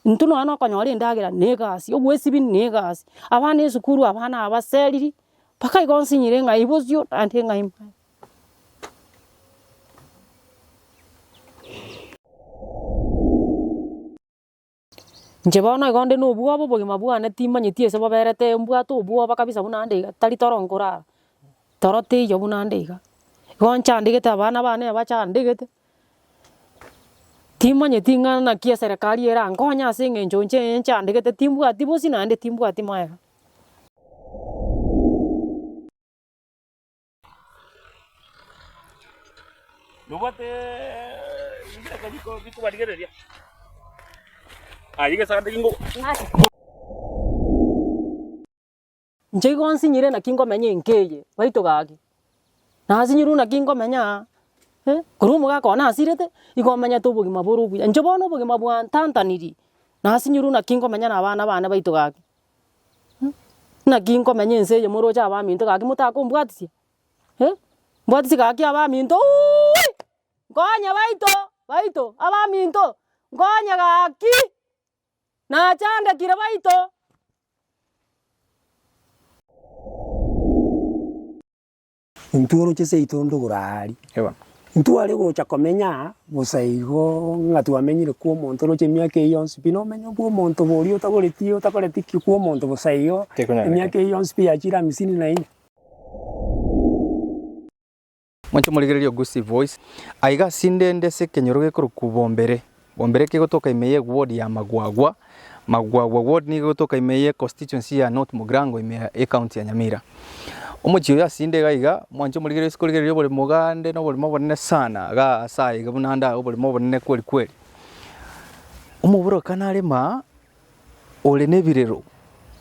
Intwe nonya nokonyora endagera na egasi, obwesibini na egasi, abana esukuru abana abaseriri, mpaka igo nsinyire ng'ai bosio naende ng'ai mbae. Inche bono igo nde na obwoba obogima bwane timanyeti ase boberete, mbwate obwoba kabisa buna ande iga, tari toro nkorara, toro teiyo buna ande iga, igo nchandegete abana bane bachandegete, Timanyeti ng'a naki eserekari erankonye ase eng'encho inche eye nchandegete timbwati bosi naende timbwati maega. Inche igo nsinyire naki ngomenya enka eye, baito gaki, nasinyirwe naki ngomenya aa, eh, korwa omogaka one asirete, igo omenyete obogima bore obuya. Inche bono obogima bwantantaniri, nasinyirwe naki ngomenya na abana bane baito gaki, eh, naki nkomenya ense eye moroche abaminto gaki motakombwatisia, eh, mbwatisi gaki abaminto uuiiii, nkonye baito, baito, abaminto, nkonye gaki. Nachangekire baito. Intwe oroche seito ndogoro aari. Ntware gocha komenya aa bosa igo ng'a twamenyire kwa omonto oroche emiaka eye yonsi pi. Nomenye kwa omonto boria otagoreti otakoreti ki kwa omonto bosa igo emiaka eye yonsi pi yachire hamisini na ine. Mwanche omorigereria o Gusii Voice. Aiga asinde nde ase ekenyoro gekorokwa Bombere. Bombere kegotoka ime ye ward ya Magwagwa. Magwagwa ward nigo egotoka ime ye constituency ya North Mugrango ime ya ecounty ya Nyamira. Omochie oyo asinde iga iga, mwanche omorigereria ase korigereria oboremo gande noboremo obonene sana iga ase aye iga buna nda oboremo obonene kweri kweri. Omoborokano arema ore nebirero,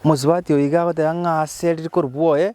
omosubati oyo iga agoteba ng'a ase rikorwa bwoye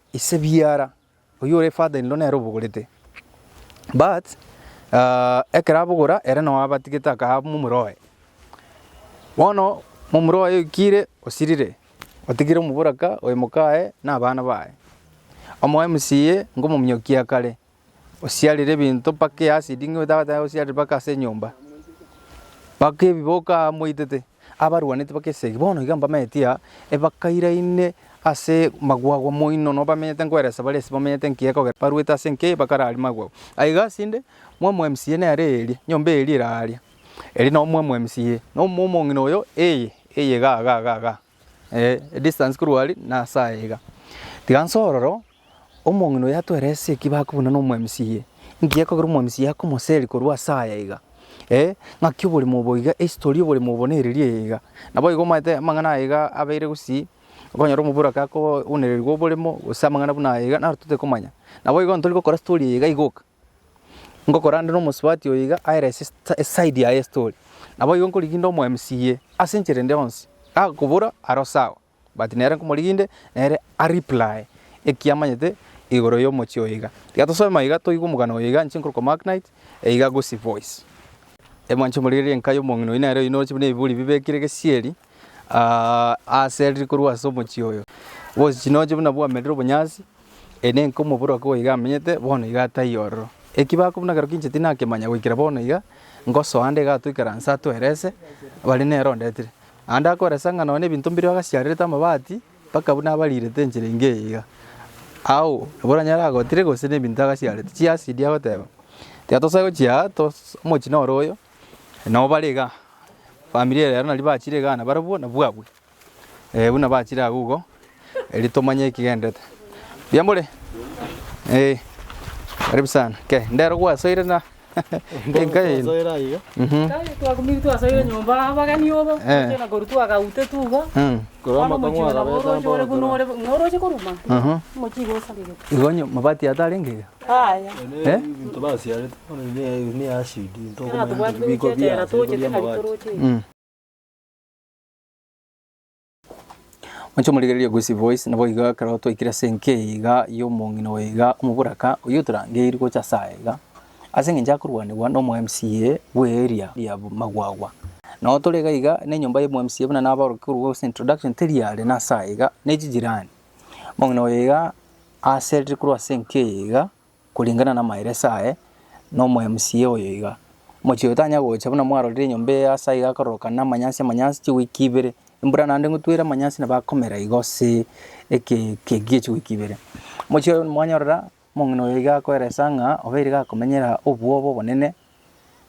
Ise biara, oyio ore father in law nere obogorete but ekero abogora ere noo abatigete akaha momura oye. Bono momura oye oikire osirire otigire omoboraka oye mokaye na abana baye. Omoe msiye nkomominyokia kare osiarire ebinto mpaka e acid ng'a otabateba gosiarera mpaka ase enyomba, mpaka ebiboka amoitete abarwaneti mpaka esegi. Bono iga mbamenyeti aa ebakairaine ase magwagwa moino nabo bamenyete nkoeresa bare ase bamenyete enki ekogera barwete ase enki bakararia magwagwa. Aye iga ase inde mwamu wa mca nere eria, nyomba eria eraria, eria nabo mwamu wa mca, na omong'ina oyo eye, eye igaa igaa igaa igaa. edistance korwa aria na ase aya iga. Tiga nse ororo, omong'ina oyo atwerese eki bakobuna n'omwamisiye. Inki gekogera omwamisiye akomoseria korwa ase aya iga, ng'aki oborimo obo iga, ehistory y'oborimo obo nereria eye iga. Naboigo omanyete amang'ana aya iga abeire gosii, okonyora omoboraka akoonererigwa oboremo gose amang'ana buna aya iga naro totakomanya. Naboigo ntori gokora story eye iga igoka. Ngokorandera omosubati oyo iga aere ase eside yaye estori. Naboigo nkoriginde omo MCA ase enchera ende yonsi. Agakobora aro sawa but nere nkomoriginde nere a reply ekiamanyete igoro yomochie oyo iga. Tiga tosoe maiga toigwe omogano oyo iga inche nkorokwa Mark Knight eiga Gusii Voice. Mwanche omorigereria enka yomong'ina oyi nere oyi noroche buna ebibori bibekire gesieri. Aase riria korwa ase omochie oyo, bose chinoche buna bwamerire obonyasi, eye nenka omobere oke goika amenyete, bono iga ataiyo ororo. Eki bakobua buna ekero kinche tinakemanya goikera bono iga, ngosoa ande iga atoikera nse atoerese bare nere ondetire. Naende akoeresa ng'a nonya na ebinto mbirio agasiarerete amabati, mpaka buna abarirete enchera engiya eye iga. Agwo nabo oranyare agotire gose na ebinto agasiarete. Chiacidi agoteba, tiga tosa gochia aa, tos omochie noro oyo, Nao bare igaa, famiri eye ero naria bachire igaa nabarabwo nabwo abwo. Eeh buna bachire agwo igo, erio tomanye ekigendete. Mbuya more? Eeh karibu sana. Kei, ndero gwasoire na enka eye. Twasoire aiga. Mhm. Tari twakumire twasoire nyomba aa abageni obo, Eh. tochia na korwa twagautete igo. Mm. Korwa Bono amakong'u omochie nabo agabete oroche ore buna ore ng'a oroche koruma. Aha. Omochie igo osarigete. Igo onye mabati atare engiya. Moche morigererie Gusii Voice, naboigo ekero twaikire ase enka eye iga y'omong'ina oyo iga omoboraka, oyio otorangeiri gocha ase aya iga, ase eng'encho akorwanigwa na omo mca bwe area ya Magwagwa. Nao tore iga iga, na enyomba ya omo mca buna nabaorokia korwa ase introduction teri are nase aya iga, ne chijirani. Omong'ina oyo iga aserire korwa ase enka eye iga, koringana namaeresa aye, na omoMCA oyo iga. Omochie oyo tanya gocha buna mwarorire enyomba eye ase aiga akororoka na amanyasi amanyasi chiweek ibere, embura naende ngotwere amanyasi nabo akomera igo ase eke eke ekiya chiweek ibere. Omochie oyo mwanyorora, Omong'ina oyo iga akoeresa ng'a obeire gakomenyera obwoba obonene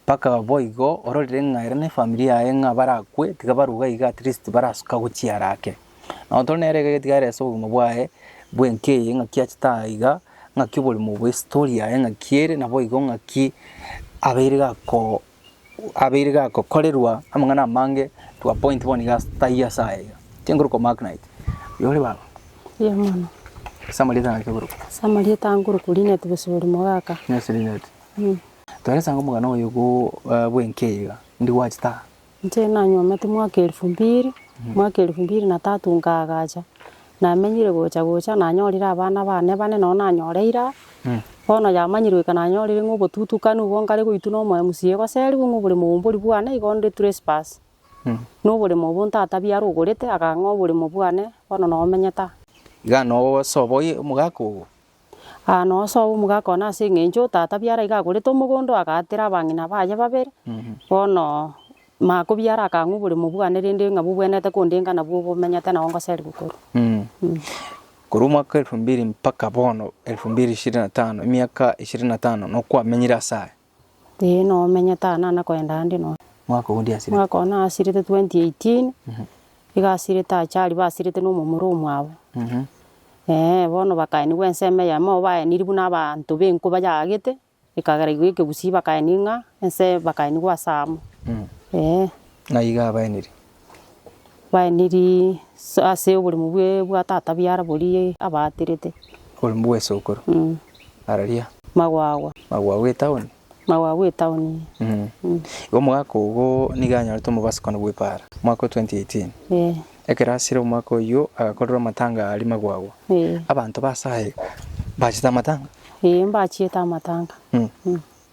mpaka boigo ororire ng'a ere na efamiri yaye ng'a barakwe tiga baruga iga at least barasoka gochiara ake. Nabo tore nere iga gatiga arese obogima bwaye bwa enka eye ng'aki achete aa iga, ng'aki oborimo bwa estori yaye ng'aki ere naboigo ng'aki abeire gako abeire gakokorerwa amang'ana amange to a point bono iga taiyo ase aya iga, tinguru komark night. Oyo ore baba? Mbuya mono. Ase amarieta naki okoruga? Ase amarieta aa nkoruga Linet Bosibori Mogaka. Yes Linet. Tore ase omogano oyo bwa bw'enka eye iga, indi gwachete aa? Inche nanyuomete mwaka elifu mbiri, mwaka elifu mbiri na tatu nkaagacha, Namenyire gocha gocha, nanyorire abana bane bane, nonya nanyore ira. Bono yamanyirwe eka nanyorire ng'a obotutukani obwo nkare goitwa nomoyo mosio egoserigwe ng'a obore moumbori bwane igo onde trespass. Noboremo obo ntatabia arogorete, akang'a oboremo bwane bono nomenyete aa. Iga nogosoboyie omogaka ogo, Aa nosoe omogaka one ase eng'encho tata biara iga agorete omogondo agaatera abang'ina baye babere, bono Mako biara akang'wa oboremo bwane rende ng'a bobwenerete kondenga nabwo obomenyete nao ngoseria gokorwa. Korwa omwaka elfu mbiri mpaka bono elfu mbiri ishirini na tano, emiaka ishirini na tano, nokwamenyire ase aya? Ee, nomenye tana nana koenda ande nonya. Mwaka oo ndiasirete. Mwaka oo nasirete 2018, iga asirete ache aria basirete na omomura omwabo. Ee, bono bakaenigwa ensemo eyemo, baeniri buna abanto b'enku bayaagete, ekagera igo ekegusii bakaenia ng'a ense bakaenigwa ase amo. Ee. Ng'ai iga abaeniri? baenirie ase oboremu bwe bwa tata biara borie abaaterete. Oboremu bwa esokoro. Araria. Magwagwa. Magwagwa etaoni. Magwagwa etaoni. Igo omogaka ogo nigo anyorete omobasukano bw'epaara, omwaka o 2018. Ekero asire omwaka oyio agakorerwa amatanga aria Magwagwa. Abanto ba ase aye mbachete amatanga? Ee, mbachiete amatanga.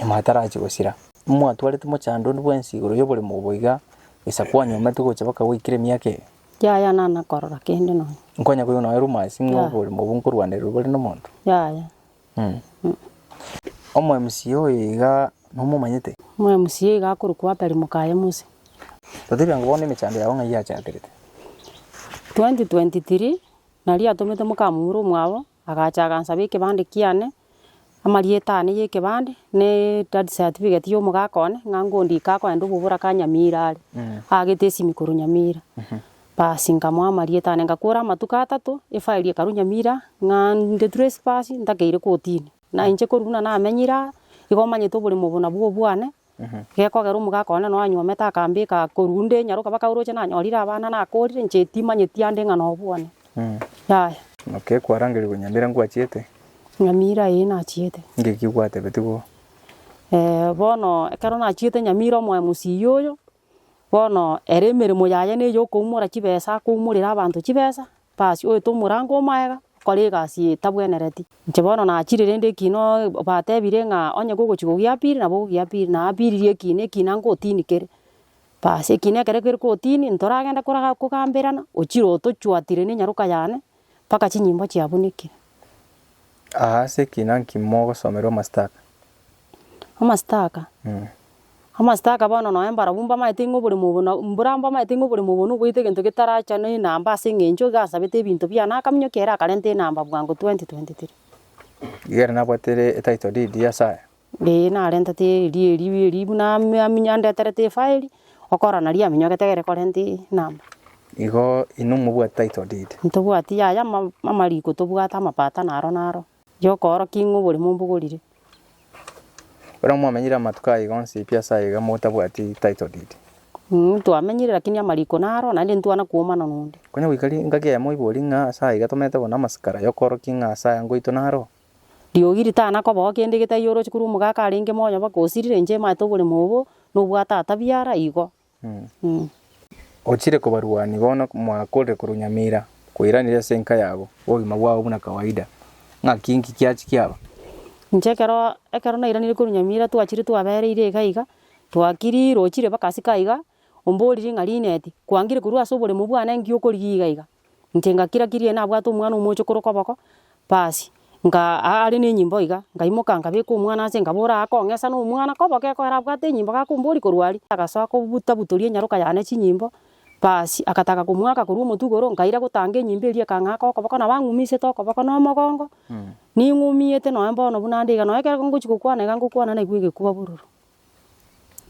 nyuma atarachie gosira. Nimwatwarete mochandundu bwensi igoro y'oborimo obo iga, gesa kwanyometwe gocha baka gwaikire emiaka eye. Yaya, nana korora kende nonya. Nkonya koigwa nonya rumors ng'a Yaya. oborimo obo nkorwanerirwe bare nomonto. Yaya. Omwemsiya oyo iga nomomanyete? Omwemsiya iga akorokwa Atari mokaye Mose. Totebia ng'a bono emechando yao ng'ai yachakerete? 2023 Nari atomete mokamura omwabo Agacha agansaba ekebande kiane, amarieta ane y'ekebande, na edad certificate y'omogaka one, ng'a ngondika akoenda obobora ka Nyamira are, aagete esimi korwa Nyamira. Basi nkamoa amarieta ane, ngakora amatuko atato, efairi ekarwa Nyamira, ng'a nde trespass, ntakeire kotini. Na inche korwa buna namenyire aa, igo omanyete oboremo obo nabwo obwane, Gekogera omogaka one noanyuomete akambeka korwa nde nyaroka mpaka oroche nanyorire abana nakorire inche timanyeti ande ng'a nobwo one. Yaya. Naki ekwarangerigwe Nyamira ngwachiete. Nyamira ee nachiete. Ngeki gwatebeti bo. Eh, bono ekero nachiete Nyamira omoe mosiyo oyo, bono ere emeremo yaye neyokoumoraa chibesa akoumorera abanto chibesa, Basi oete omorango o magega, okore egasi eye etabwenereti. Inche bono nachire rende ekina oo batebire ng'a onye gogochi kogia piri nabo ogogia piri. Napiririe ekina, ekina ngotini kere. Basi ekina ekero kere kotini, ntoragende koraga kogamberana, ochire otochwatire na enyaroka yane, mpaka chinyimbo chiabunekire. Aa ase ekina nki mogosomerwa amastaka? Amasitaka, amasitaka bono nonye mbarabwo mbamaete ng'a oboremo obo na mbura mbamaete ng'a oboremo obo noboete egento getaracha na enamba ase eng'encho iga asabete ebinto biane akaminyokia ere akarenta enamba bwango 2023. Iga ere nabwate ere etitle deed ya ase aya. Ee narentete eria erio eria buna ame- aminye andeterete efile, okorora naria aminyogete gere korenta enamba. Igo inwe mobwate title deed. Ntobwati yaya ama- amariko tobwate amapatano aro naro. Y'okoorokia ing'we oborimo mbogorire. Ekero mwamenyire amatuko ayio onsi pi ase aiga motabwati title deed. Inwe twamenyire lakini amariko naro naende ntwana kuomana nonde. Konya goika ringaki eyemo oiborie ng'a ase aiga tomerete kona amasikara, y'okoorokia ng'a ase aya ngoito naro. Riogi ritana kobao kende getaiyo oroche korwa omogaka arenge moyo mpaka osirire, inche emanyete oborimo obo nobwate atabiara igo. Ochire kobarwani bono mwakorire korwa Nyamira koiraneria ase enka yabo obogima bwabo buna kawaida. Ng'aki inki kiachi kiaba? Inche ekero ekero nairaneiri korwa Nyamira twachire twabereire iga iga twakiri rochire mpaka asika iga omboriri ng'a Linet kwangire korwa ase oboremo bwane nki okorigia iga iga. Inche ngakira kirie nabwate omwana omochokoro okoboko, basi nkaa are nenyimbo iga, nkaimoka nkabeka omwana ase nkabora aa kong'esa na omwana koboko ekero abwate enyimbo gakombori korwa aria, agasoa kobuta butoria enyaroka yane chinyimbo, basi agataga komwaka korwa omotwe igoro, nkaira gotanga enyimbo eria ekang'aka okoboko nabo ang'umisete okoboko na omogongo, ning'umiete nonye bono buna nde iga, nonye ekero ngochia gokwana iga ngokwana naigwe egekuba bororo.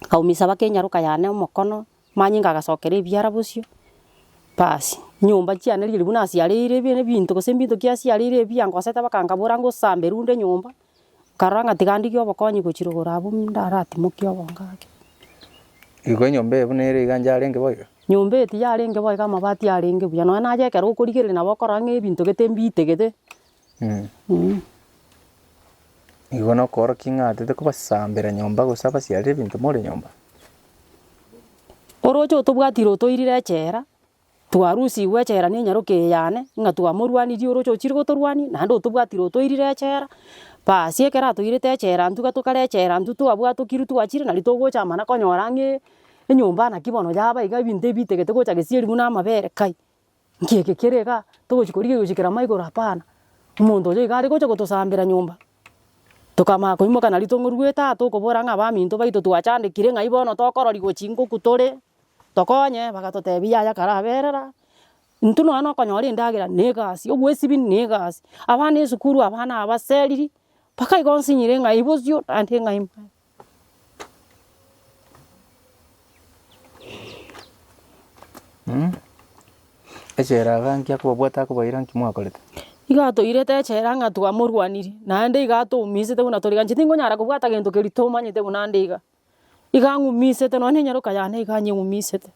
Nkaumisa mpaka enyaroka yane omokono, Manyinga agasokera ebiara bosio, basi nyomba chiane riria ribu nasiareire ebi- ebinto gose mbinto kiasiareire ebi biangosete bakangabora ngosamba erunde nyomba, nkarora ng'a tiga ndigie obokonyi gochirogora abwo ndaratimokie obonge ake. Igo enyomba eye buna ere iga inche arenge bo iga. Nyomba eye tiyarenge bo iga amabati arenge buya, nonya naye ekero okorigereria nabo okorora ng'a ebinto gete mbiitegete, Igo nokorokia ng'a totekobasambera nyomba gose abasiarire ebinto more nyomba. Oroche otobwatire otoirire echela, twarusigwe echela ne enyaroke eye yane, ng'a twamorwanirie oroche ochire gotorwania, naende otobwatire otoirire echela, basi ekero atoirete echela intwe iga tokare echela intwe twabwatokirwe twachire nari togocha mana konyora ng'ee enyomba naki bono yaba iga ebinto ebi bitegete gocha gesieri buna amabere kai. Nki eke kere igaa, togochi korigia gochi kera mo igoro hapana. Omonto oyo iga aregocha gotosambera nyomba, tokamanya koimoka na ritong'o rw'etato okobora ng'a abaminto baito twachandekire ng'ai bono tokorori gochi ngoku tore, tokonye, bagatotebia yaya karaberera, intwe nonya na okonyora endagera na egasi, obwesibi na egasi, abana esukuru abana abaseriri, mpaka igo nsinyire ng'ai bosio naende ng'ai. Echela iga nki akobabwata akobaira nki mwakorete? Igo atoirete echela ng'a twamorwanirie, naende iga atoumisete buna tore gancha tingonyara kobwata gento keria tomanyete buna ande iga. Iga ang'umisete nonya na enyaroka yane iga anyeng'umisete.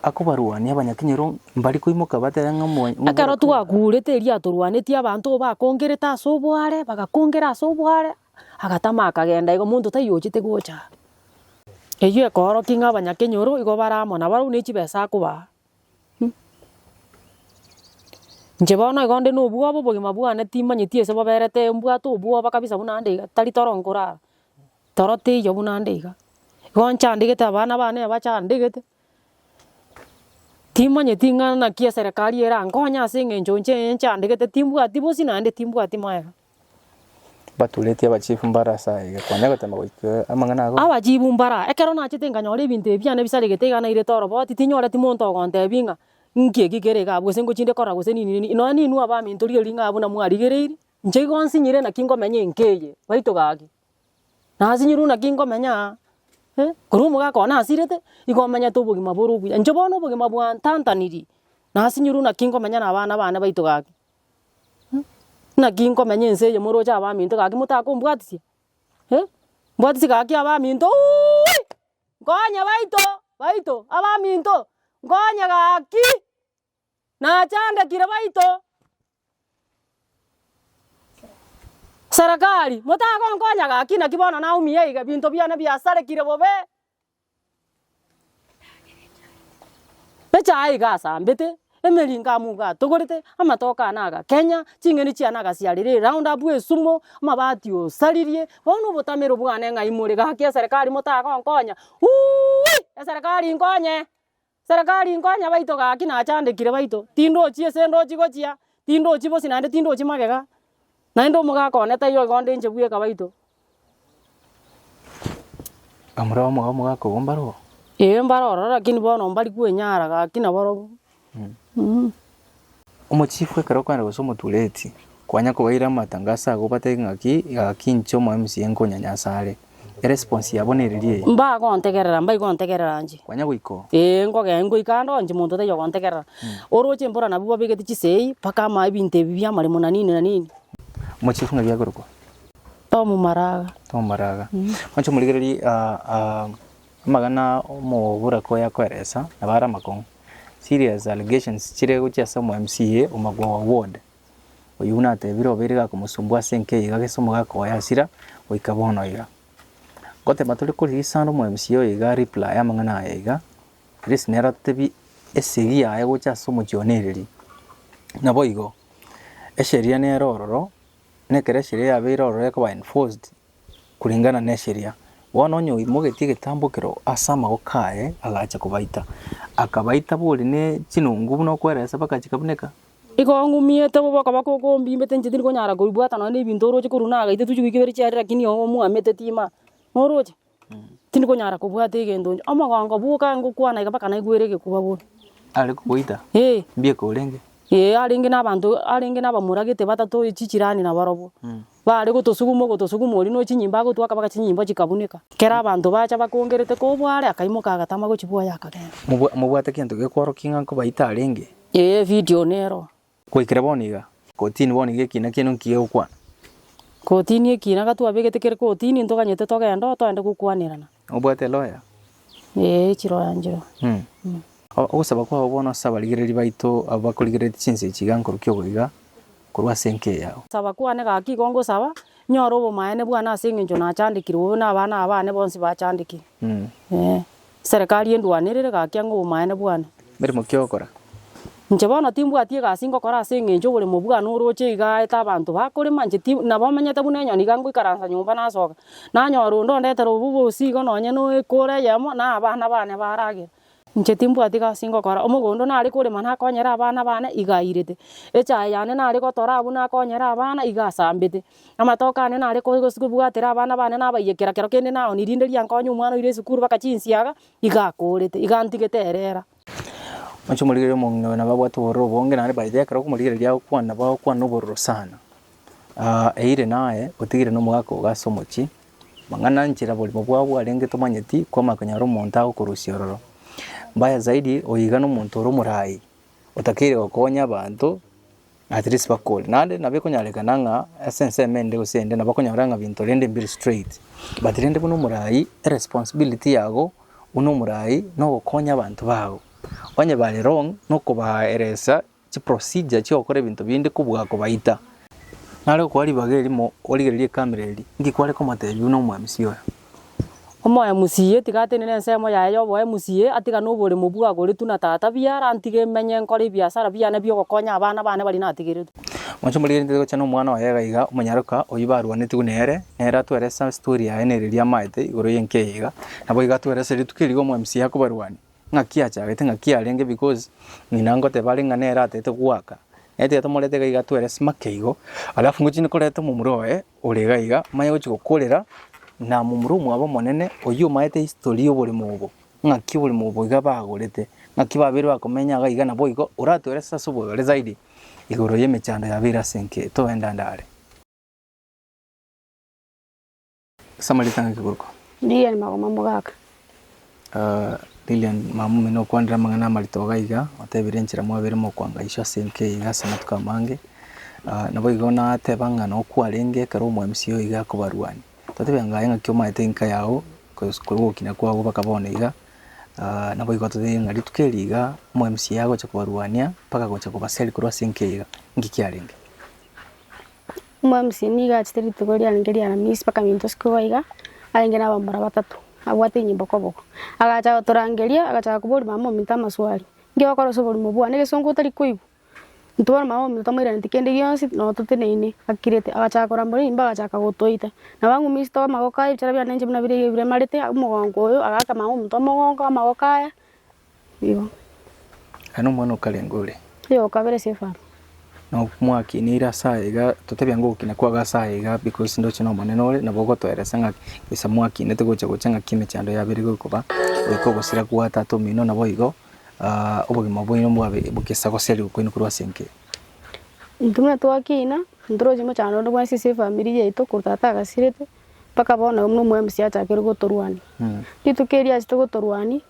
Akobarwania abanyakinyero mbari koimoka batebe ng'a omo. Ekero twakurete erio atorwanetie abanto bakongerete ase oboare, bagakongera ase oboare, Agatama akagenda igo, monto taiyo ochete gocha. Eyio ekoorokia ng'a abanyakenyoro igo bare amo nabarabwo ne chibesa akobaa. Inche bono igo nde nobwoba obogima bwane timanyeti ase boberete mbwate obwoba kabisa buna nde iga tari toro nkorara toro teiyo buna nde iga. Igo ncha ndegete abana bane bacha ndegete. Timanyeti ng'a naki eserekari erankonye ase eng'encho inche enchandegete timbwati bosina naende timbwati maega. Baturetie abachief mbara ase aye konya goteema goika amang'ana ago. Abachifu mbara, ekero nachete nkanyora ebinto ebi biane bisaregete iga nairete oroboti, tinyoreti monto ogontebia ng'a nki eki kere igaa gose nkochi inde kora gose nini nini. Nonya ninwe abaminto riria ring'aa buna mwarigereiri, inche igo nsinyire naki nkomenya enka eye, baito gaki. Nasi nyirw naki nkomenya aa, eh, korwa omogaka one asirete, nigo omenyete obogima bore obuya. Inche bono obogima bwantantaniri, nasi nyirw naki nkomenya na abana bane baito gaki. Naki nkomenya ense eye moroche abaminto gaki motakombwatisia, eh, mbwatisi gaki abaminto uuiiii, nkonye baito, baito, abaminto, nkonye gaki. Nachangekire baito Serikali, motagonkonya gaki naki bono naumia iga, binto biane biasarekire bobe, echae iga asambete, emeringo amo iga atogorete, amatoke ane agakenya, ching'eni chiane agasiarera eround up esumo, amabati osaririe, bono obotamero bwane ng'ai more gaki eserikari motagonkonya, uuii eserikari inkonye. Serikali nkonya baito gaki nachandekire baito tindochi ese ndochi gochia tindochi bosi naende tindochi magega naende omogaka one taiyo igo ndenche bweka baito. Amore amo iga omogaka ogo mbare oo? Ee mbare ororo lakini bono mbari kwenyara gaki nabarobwo. Omochifu ekero okogenda gose omotureti, kwanya kobaira amatangaso agwo obatebie ng'aki gaki inche omo MCA nkonyanyasa are. Eresponse yabo nereri eye. Mbagontegerera, mbaigwe ontegerera inche. Kwanya goika oo. Ee, nkogenda ngoika ande oo inche monto taiyo ogontegerera. Oroche mbora nabwo babegete chisegi mpaka ama ebinto ebi biamaremo na nini na nini. Omochifu ng'ai biakorokwa? Tom Maraga. Tom Maraga. Mwancha omorigererie Amagana omobura koya kweresa nabo are amakong'u. Serious allegations chire gochia ase omo MCA o Magwowa ward, oyio buna atebire obeire gakomosumbua ase enka eye iga gese omoga akoya hasira goika bono iga. Goteba tore ko release ande omo MCA oyo iga reply amang'ana aya iga, at least nere otebi esegi yaye gocha ase omochie one ereri. Naboigo, esheria nere ororo, nekero esheria yabeire ororo ekoba enforced, koreng'ana necheria. Bono onye oimogetie egetambo ekero ase amagoko aye agacha kobaita, akabaita bori ne chinungu buna okweresa bakachikabuneka. Igo ng'umiete bobe okoboko oko ombimbete inche tindi konyara kobibwata nonye ne ebinto oroche korwa na agaita tochia goika ibere chiaria lakini ogo omwamete tima. Noroche? Tindi konyara kobwata egento inche. Omogongo bwoka ngokwana iga mpaka naigwere egekuba bono. Are kogoita? Ee. Mbieka orenge? Ee arenge na abanto arenge na abamoragete batato chijirani na barobwo. Baare gotosuguma ogotosuguma oria no chinyimbo agotwa akabaka chinyimbo chikabuneka. Kera abanto bacha bakongerete kobua are akaimoka agatama gochibuoya akagenda. Mobwate gento gekworokia ng'a nkobaita arenge? Ee evideo nero. Goikera bono iga. Kotini bono iga ekiina kiaino nki gegokwana? Kotini ekiina gatwabegete kere kotini ntoganyete togende oo toende gokwanerana. Obwate eloya? Ee, echiroyanchero. Mh. Ogosaba kwao bono ase abarigereri baito abo bakorigereretie chinsa echi iga nkorukia obo iga, korwa ase enka eyao. Saba kwane gaki igo ngosaba, nyore obomaene bwane ase engencho nachandekire obe nabana abane bonsi bachandekire. Ee, Serekari endwanerere gaki ang'e obomaene bwane. Meremo ki ogokora? Inche bono timbwati egasi ngokora ase engencho oboremo bwane oroche iga aete abanto bakorema, inche ti, nabo omenyete buna enyoni iga ngoikaransa nyomba nasoka. Nanyora onde ondetere obwo bw'obosigo nonya n'ekoro eyemo na abana bane baragere. Inche timbwati gasi ngokora. Omogondo nare korema nakonyere abana bane, iga airete. Echae yane nare gotora abwo nakonyere abana, iga asambete. Amatoke ane nare ko- gos- kobwatera abana bane nabaiyekia kera kero kende naoni rinde riankonye omwana oira esukuru baka chinsiaga, iga akorete, iga antigete erera. Oche omorigereria omong'ina oyo nabo abwate obororo obonge naende by the way ekero okomorigereria agokwana nabo agokwana obororo sana. eyire naye otigire na omogaka ogo ase omochie, mang'ana nchera oborimo bwabo arenge tomanyeti kwamanya konyora omonto agokorusia ororo. Mbaya zaidi oye iga na omonto ore omoraai otakeire gokonya abanto. At least bakore. Naende nabo ekonyarekana ng'a ase ensemo ende gose ende nabo okonyora ng'a binto rende mbire straight. But rende buna omoraai eresponsibility yago buna omoraai nogokonya abanto bago. Onye bare wrong nokobaeresa chiprocedure chi'ogokora ebinto binde kobua kobaita. Nare okoa ribaga erimo origererie ekamera eria, inki kware komotebia buna omwamisi oyo? Omoyo mosiyie tiga atenene ensemo yaye y'oboyo mosiyie, atiga noboremo bwagoretwe na tata buya, arantige menye nkore ebiasara biane bi'ogokonya abana bane baria natigeretie. Moche morigererie ntabe gocha nomwana oye iga iga, omonyaroka oyio barwanetigwe nere, nere atweresa estori yaye na eria riamaete igoro y'enka eye iga, naboigo atweresa rituko erigiya omoyo mosiyie akobarwania. Ng'aki achagete, ng'aki arenge because ng'ina ngoteba are ng'a nere atete goaka. Naye tiga tomorete iga iga twere simake igo, alafu ngochi ne koreta omomura oye ore iga iga, manye gochi gokorera na momura omwabo omonene oyio omaete history y'oborimo obo, ng'aki oborimo obo iga bagorete, ng'aki babeire bakomenya iga iga naboigo oratwere sasa ase oboyore zaidi igoro y'emechando yabeire ase enke toendande are. Ase amarieta ng'a Kigurko. Lilian Magoma Mogaka. Lilian mama omino okwanire amang'ana amarito iga iga, otebire enchera mwabere mokwanga iswe ase enka eye iga ase amatuko amange. Nabo igo nateba ng'a nabo kwarenge ekero omwamisi oyo iga akobarwania, totebe ng'a aye ng'aki omanyete enka yago kosi korwa ogokina kwago mpaka bono iga. Nabo igo totebie ng'a rituko eri iga omwamisi oyo agocha kobarwania mpaka agocha kobaseri korwa ase enka eye iga, inki kiarenge? Omwamisiri nigo achete rituko riane nkeria Aramisi mpaka minto isiko igo iga, arenge nabamura batato, abwate inye bokoboko. Agacha gotorangeria, agachaka koboria mama ominto amaswali, Inki ogokora ase oborimo bwane? Egesongo otari koigwa? Intwe bono mama ominto tomoiranetie kende gionsi, nonya toteneine akirete. Agachaka korambora enyimba agachaka gotoita. Nabo ang'umia inse too amagoko aye, ebichara biane inche buna bire iga ebiremarete, omogongo oyo, agaaka mama ominto omogongo amagoko aya, Igo. Aya nomwana okarenge ore. Igo kabere Sefano. Nabo mwakinire ase aya iga, totebia ng'a ogokina kwabo ase aya iga because ndoche n'Omonene ore, nabo ogotoeresa ng'a gesa mwakinete gocha gocha ng'aki emechando yabere iga ekoba goika ogosira gwa tata omino naboigo obogima bwaino mbwabe bogesa goseriwa kwaino korwa ase enke. Intwe buna twakina, ntoroche mochando onde bwensi ase efamiri yaito korwa tata agasirete mpaka bono buna omwami ase achakeire gotorwania. Rituko erio achete gotorwania,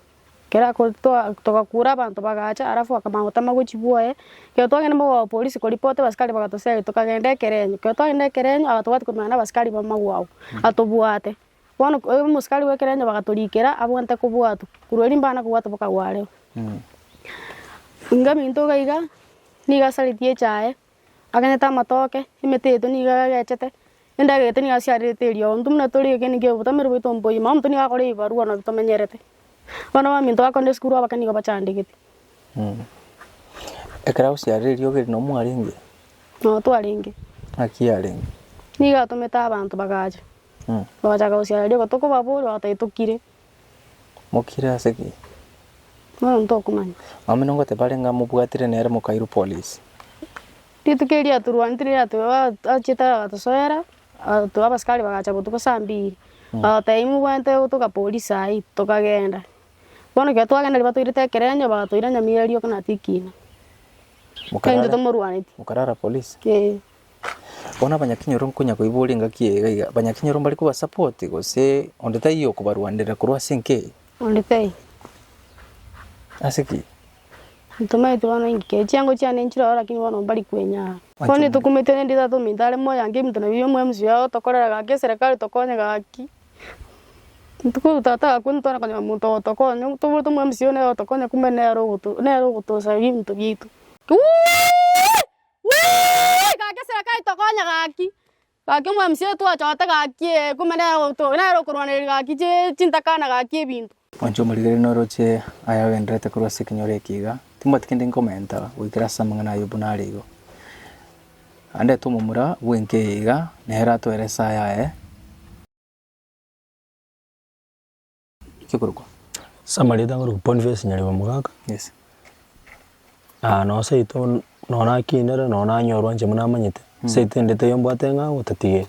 Ekero agotoa togakuura abanto bagacha alafu bakamanya gotama gwe chibuoye, ekero twagenda mogoba polisi koripoti abasikari bagatoseri tokagenda ekerenyo, ekero twagenda ekerenyo aye tobwati koremana na abasikari ba magwagu atobwate, bono ko omosikari bwa ekerenyo bagatorikera abwate kobwatwa korwa erio mbana kobwatwa mpaka gwareo. Ingaminto iga iga nigo asareti echaye. Agenete amatoke, emete yaito nigo egegechete, endagera yaito nigo yasiarerete erio. Intwe buna tore ekeene kia obotamero bwaito mboiyo, mama omonto nigo akore ebibarua nabwo tomenyerete. Bono abaminto bakorende esukuru abake nigo bachandegete. Ekero agosiarera erio ogere noo mwarenge? Noo twarenge. Naki yarenge? Nigo atomete abanto bagacha, bagachaka gosiarera erio, igo tokobaboria, bagotebi tokire. Mokire ase ki? Nomonto okomanya. Abamino nigo tibare ng'a mobwatire nere mokairu polisi. Rituko erio atorwantire yateba achete agatosoera agatoa abasikari bagacha botuko saa mbiri agoteba imwe mobwate gotoka polisi ayii tokagenda bono ekero twagenda riba toirete ekerenyo bagatoira nyamira riokana tikina. Mokara- Ntwe tomorwaneti. mokarara polisi? Eeh. Bono abanyakinyoro nkonya koiboria engaki eye iga iga, abanyakinyoro mbare koba support gose onde taiyo okobarwanerera korwa ase enki eye? Onde taiyo. Ase ki? Ntomaete bono ingikee, chiango chiane nchire ororo lakini bono mbari kwenyaa. Bono Machungwa. nitokumete rende tata ominto are moyo ange eminto nabi omo mca yao otokorera gaki eserekari tokonye gaki. Ntuku tata agakwa nitore konyora omonto ogotokonya, toboete omo mca one otokonye kumbe nere ogoto nere ogotosaria eminto biaito. Wii! Gaki eserekai tokonya gaki, gaki omwamisioneri twachote gaki ee, kumbe nere oto nere okorwanereria gaki chi chintakana gaki ebinto. Mwanche omorigereri noroche aya agendererete korwa ase ekenyoro eke iga, timbwati kende nkomenta goikera ase amang'ana a Ayubu nare igo. Andete omomura bw'enka eye iga, nere atoerese ayaye. ekeborokwa. Ase amarieta ngoroku Boniface Nyareba Mogaka, Yes. na noo seito n- noo nakinire noo nanyorwa inche buna namanyete, seito ende taiyo mbwate ng'a gotatigeri.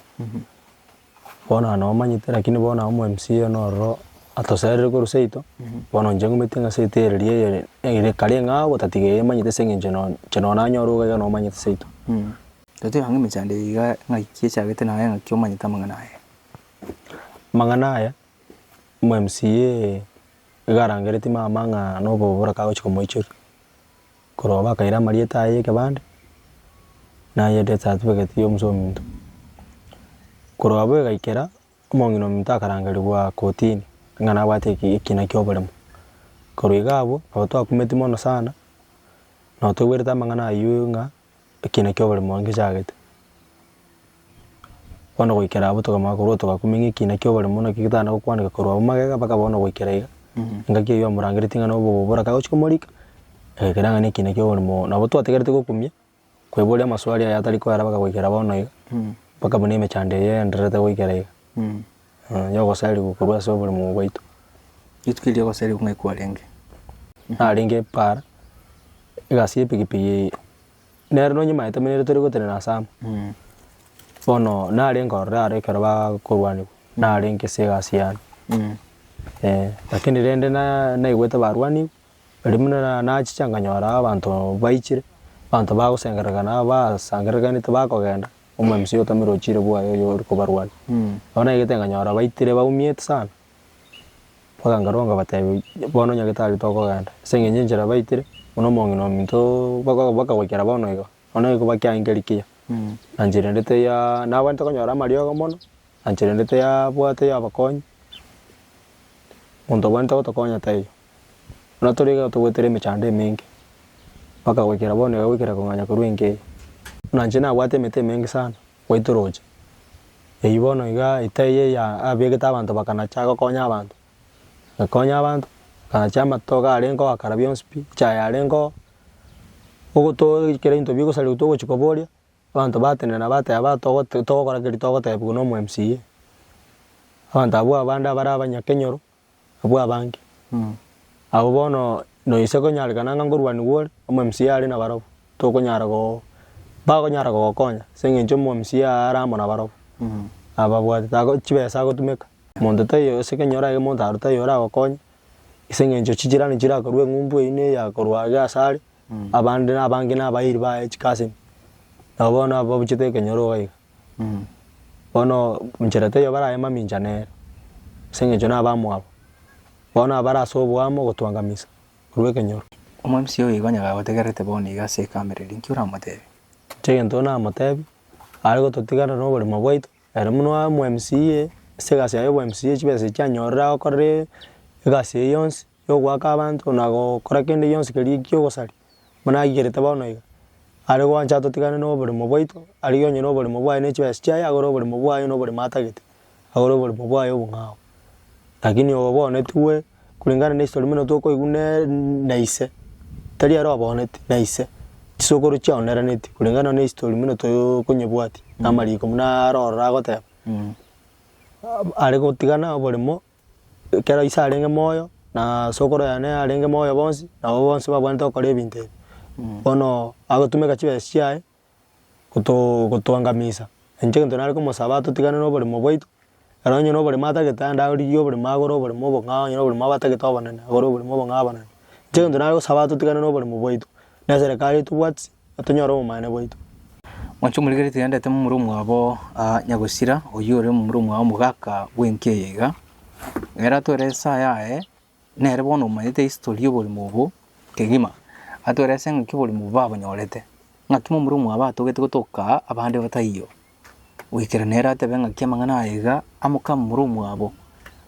Bono na noo manyete lakini bono omo mca one ororo atoserire korwa seito, bono inche ngumeti ng'a seito ere riria eyore ere kare ng'a gotatigeri emanyete ase eng'encho noo inche noo nanyorwa iga iga noo manyete seito. Totebe ang'e emechando eye iga ng'aki echagete naye ng'aki omanyete amang'ana aya. Amang'ana aya. Omomca iga arangeretie mama ng'a noboboraka agochia komoichoria, korwa bakaira amarieta aye y'ekebande, na aye death certificate ya omosa ominto. Korwa abwo egaikera, omong'ina ominto akarangerigwa kotini ng'a nabwate eki- ekina kia oboremo. Korwa iga abwo, nabo twakumeti mono sana, nabo toigwerete amang'ana ayio ng'a. ekiina kia oborimo oye ngechaagete. Bono goikera abwo tokamanya korwa togakumia ng'a ekiina kia oborimo naki getagana gokwaneka korwa abwo magega mpaka bono goikera iga, engaki eyio yamorangereti ng'a na obobobora kagochi komorika, agaikera ng'a na ekiina kia oborimo oo. Nabo twategereti gokumia, koiboria amaswali aye atari koerabeka goikera bono iga, mpaka buna emechando eye yaendererete goikera iga. Y'ogosarigwa korwa ase oborimo bwaito. Rituko erio ri'ogosarigwa ng'ai kwarenge? Narenge para, egasi y'epikipiki eye, nere nonya mwaetaminerete tori gotenena ase amo, bono nare nkorore aro ekero bakorwanigwa, narenge ase egasi yane eh. Lakini rende na naigwete barwanigwa, eri buna nachiche nkanyora abanto baichire, abanto bagosengererekana, basangererekanete bakogenda. Omomisa oyo otamire ochire bwaye oyo ore kobarwania. Nabo naigete nkanyora baitire baumiete sana, mpaka nkarwa nkabatebia bono nyagetari tokogenda ase eng'encho enchera baitire buna omong'ina ominto baka bakagwekera bono iga bono iko bakiaye nkeri kiya. Na nchera ende taiaa nabwenerete konyora amariogo mono, na nchera ende taiabwate abakonyi, monto obwenerete gotokonya taiyo. Buna tore iga togoetera emechando emenge, mpaka goikera bono iga goikera kong'anya korwa enka eye. Buna inche nabwate emete emenge sana goita orooche. Eyio bono iga eita eye yabeegete abanto bakanacha gokonya abanto. Bakonya abanto, bakanacha amatoke arengeo akara bionsi pi, echae yarengeo, ogoto kera ebinto bigosariwa togochi koboria, abanto batenena bateba ba togote togokora keri togotebiwa nomo MCA. Abanto abwo abande abare abanyakenyoro. abwo abange. Abwo bono noise ekonyarekana ng'a nkorwanigwa ore, omwMCA are nabarabwo, tokonyara go bakonyara gogokonya ase eng'encho omwMCA are amo nabarabwo. Ababwatete ago chibesa agotumeka. Monto taiyo ase Kenya orage monto aro taiyo oragokonye, ase eng'encho chijirani chirakorwa eng'umbu eyio neya korwa iga ase are, abande na abange nabairi baye chikasini. Nabo bono ababuchete ekenyoro iga iga. Bono inchera teiyo baraye mamincha nere, ase engencho nabamwabo. Bono abare ase oboamo ogotwangamisa korwa ekenyoro. Omwamisiri oyo igo onye gagotegererete bono iga ase ekamereri, inki oramotebie? Inche egento namotebie, are gototigana noborimo bwaito, ere buna oye omo MCA, ase egasi yaye y'obo MCA chibesa echi anyorire agokorera egasi eye yonsi. y'ogoaka abanto na gokora kende gionsi keria gi'ogosaria, buna aigerete bono iga, Are gwancha atotigane noboremo bwaito, arigie onye noboremo bwaye ne chibesa chiaye agore oboremo bwaye noboremo atagete, agore oboremo bwaye obong'ao. Lakini obonetigwe koreng'ana ne history buna tokoigwa ne na ise, tari ere oboneti, na ise, chisokoro chiao neraneti koreng'ana ne history buna tokonyebwati na amariko buna aroro agoteba, are gotigana oboremo ekero ise arenge moyo, na sokoro yane arenge moyo bonsi, nabo bonsi babwenerete gokora ebinto ebi. Bono agotumeka chibesa chiaye goto gotoangamisa, inche egento nare komosaba totigane noboremo bwaito, ere onye na oboremo atagete aende arigie oboremo agore oboremo obong'ao, onye na oboremo abatagete obonene agore oboremo obong'ao abanene. Inche egento nare gosaba totigane noboremo bwaito, Neserekari eye tobwati, na tonyore obomanene bwaito. Mwanche omorikeri tigaendete momura omwabo aa nyagosira, oyio ore momura omwao omogaka bw'enki eye iga? Ere atwere esa yaye, nere bono omanyete history y'oborimo obo kegima, atwere ase ng'aki oborimo obo babanyorete, ng'aki momura omwabo atogete gotoka aa abande bataiyo. goikera nere atebe ng'aki amang'ana aya iga amoke amomura omwabo,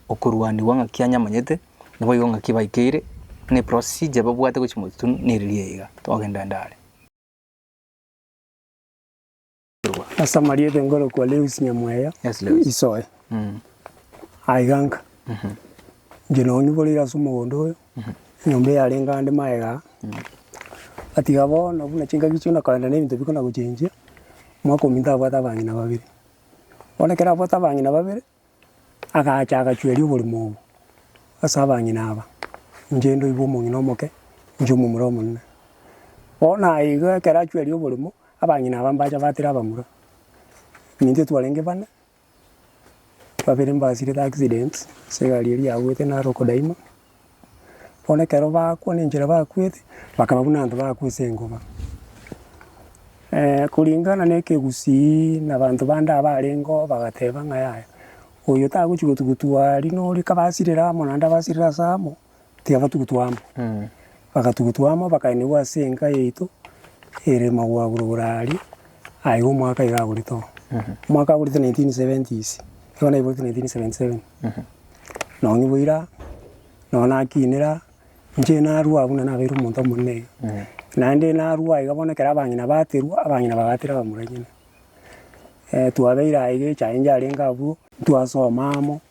okorwanigwa ng'aki anyamanyete, naboigo ng'aki baikeire, na eprosije babwate gochia motwe neriria iga, togenda ande are. Ase amarieta nkorokwa Lewis Nyamweya, Yes, Lewis. isoe, Mm. aiga nka, inche nonyiboreire ase omogondo oyo, Enyomba eyarenge ande magega gatiga bono buna chingaki chiona korende nebinto bikona gochenjia, omwaka ominto abwate abang'ina babere. Bono ekero abwate abang'ina babere, agacha agachueria oborimo obo ase abang'ina aba, inche ndoigwe omong'ina omoke, inche omomura omonene. Bono aye iga ekero achueria oborimo, abang'ina aba mbacha batera abamura, eminto etwarenge bane. Babere mbasirete accident, ase egari eria yabuete naro okodaima, bono ekero bakwa na enchera bakwete, bakaba buna abanto bakwa ase engoba. kuringana na ekegusii na abanto bande abarenge oo bagateba ng'a yaya, oyo tagochi gotugutua aria na oria kabasirere amo naende abasirere ase amo. tiabatugutwa amo. Bagatugutwa amo bakaenigwa ase enka yaito ere magwagure igoro aria, aye iga omwaka iga agorete oo. Omwaka agorete nineteen seventies, igo naiborete nineteen seventy seven. Nonye bo ira, nonye nakinire ira, inche narwa buna nabeire omonto omonene iga. Naende narwa aiga bono ekero abang'ina baterwa, abang'ina bagatera abamura enyene. Twabeire aiga echae inche arenge abwo, ntwasoma amo,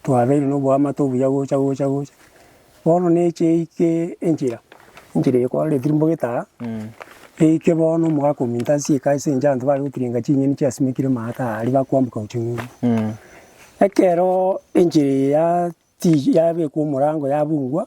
twabeire noboamate obuya gocha gocha gocha, bono neche eike enchera, enchera eye kwaroretie mbogete aa, eike bono omogaka ominto ase eka ase engencho abanto bare gotirenga ching'eni chiasimekire maate aa aria bakoamboka gochia ng'umbu. Ekeroo enchera eye yatiyi yabekwa omorango yabungwa,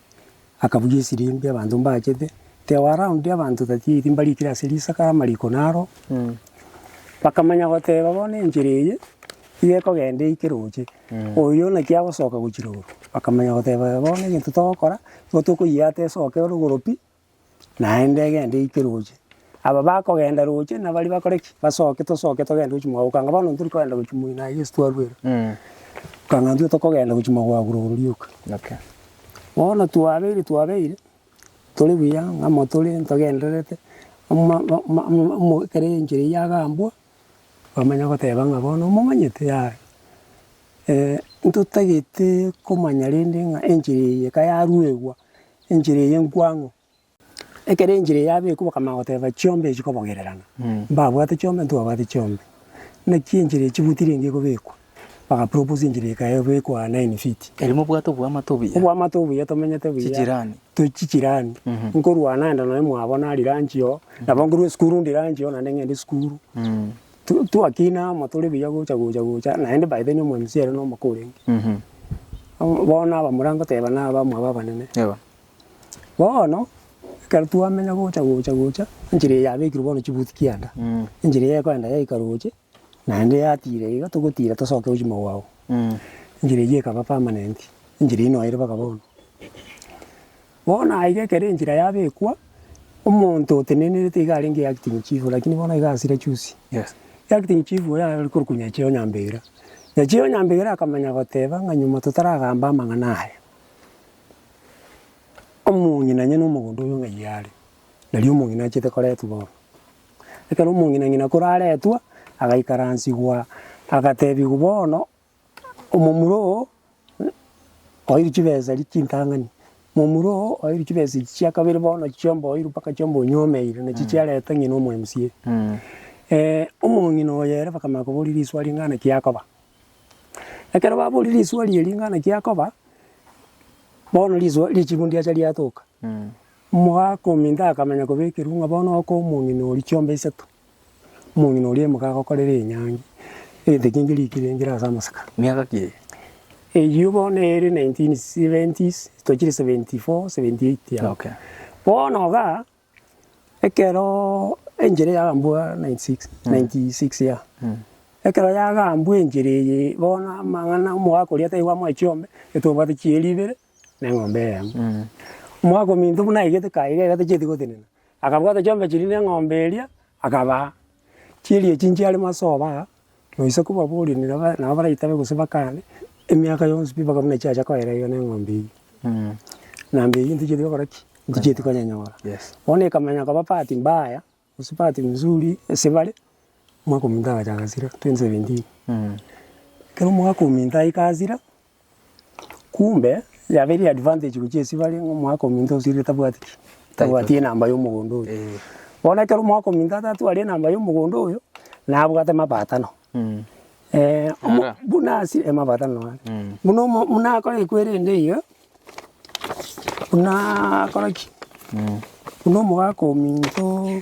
akabugia esirimbi abanto mbachete, teo around abanto thirty eight mbarikire ase risaka amariko naro, bakamanya goteba bono enchera eye iga ekogenda eike roche, oyo naki agosoka gochia rogoro, bakamanya goteba bono egento togokora, nigo tokoyiata esoke rogoro pi, naende egende eike roche. Aba bakogenda roche na baria bakore ki? Basoke tosoke togende gochia mwao. Okanga bono ntori kogenda gochia moi naye Yeso twarwera. Okanga intwe tokogenda gochia mwagura oro rioka. Okay. Bono twabeire twabeire, tore buya ng'amo tore ntogendererete, ama- ma- ma- ma- mo ekero enchera eyio agambwa, bamanya goteba ng'a bono momanyete yaya, ntotagete komanya rende ng'a enchera eye eka yaruegwa. enchera eye enkwango. Ekero enchera eye yabekwa bakamanya goteba chiombe echi chikobogererana, mbabwate chiombe ntibabwate chiombe, naki enchera eye chibuti rende ekobekwa, bagaproposa enchera eye ekaya ebekwa nine feet. Erio mobwate oboamate obuya. Oboamate obuya tomenyete buya. Chichirani. Turi chichirani. Nkorwana nende nonya mwabo nari lunch oo, nabo nkorwa esukuru ndi lunch oo naende ng'ende esukuru. tu twakina amo tore buya gocha gocha gocha, naende by then omwamisio ere nomaka orenge. Mhm. Abo bono abamura ngoteba na abamwabo abanene. Yebo. Bono, ekero twamenya gocha gocha gocha, enchera eye yabekirwe bono chibuti kianda, Mm. enchera eye ekoenda yaika roche, naende yatira iga, togotira tosoke gochia mogwao. Mm. Enchera eyio ekaba permanent, enchera eyio noyo ere mpaka bono. Bono aiga ekero enchera yabekwa, omonto otenenerete iga arenge yo acting chief, lakini bono iga asire chusi. Yes. Yo acting chief oyo are korokwa Nyacheo Nyambegera. Nyacheo Nyambegera akamanya goteba ng'a nyuma totaragamba amang'ana aya, omong'ina nyene omogondo oyo ng'ai are, nari omong'ina achete koretwa bono. Ekero omong'ina ng'ina kore aretwa, agaikaransigwa, agatebigwa bono. Omomura oo oeirwe chibesa eria chintang'ani, momura oo oeirwe chibesa echi chia kabere bono chiomba oeirwe mpaka chiomba onyomeire nachi chiareta ng'ina omo MCA. omong'ina oyo ere bakamanya koboria risuo ring'ana ki akoba. Ekero baboria risuo ria ring'ana ki akoba, bono risuo richibu ndiacha riatoka, omogaka ominto akamanya kobekerwa ng'a bono okoa omong'ina oria chiomba isato. Omong'ina oria aimoke agokorere enyangi, egento kiaye nkeria ekerengera ase amasaka. Miaka ki eye? Eyio bono ere nineteen seventies, tochire seventy four, seventy eight aho. Okay. Bono igaa, ekeroo enchera yagambwa ninety six, ninety six yea. Ekero yagambwa enchera eye, bono amang'ana omogaka oria taiyo bwamoa chiombe, ere tobwate chieri ibere, na eng'ombe eyemo. Omogaka ominto buna aigete kaye iga iga tacheti gotenena, Akabwata chiombe chiria na eng'ombe eria, akabaa. Chiria echi nchiare masoba aa, noise kobaboria onde naba nabo baraitabe gose bakane, emiaka yonsi pi mpaka buna chiacha koera iga na eng'ombe eywo. Na mbe eywo ntichieti gokora ki? Ntichieti konyenyora. Bono ekamanya koba part mbaya, gose part mzuri ase bare, omwaka ominto agachaka sira, twenty seventeen. Ekero omwaka ominto aika asira. Kumbe yabeire advantage gochia ase bare ng'a omwaka ominto osirire tabwati ki? Tabwati enamba ya omogondo oyo. Bono ekero omwaka ominto atatwari enamba ya omogondo oyo, nabwate mabaatano omo buna asire eh mabaatano nonya ake. Buna omo buna akore ekwerende eyio, bunaakore ki? Buna omogaka ominto.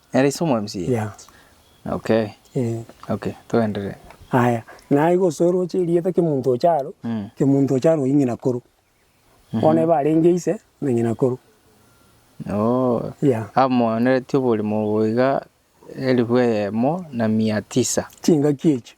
Nere ise omwamisiri? Yeah. Okay. Eh. Okay, toenderee. Aya, naye gose oroche erieta kemonto ocha aro, Mm. kemonto ocha aro oyio ng'inakoro. Bono eba arenge ise na ng'inakoro. Oh. Yeah. Amoanereti oborimo obo iga, elifu eyemo na mia tisa. Chingaki echio.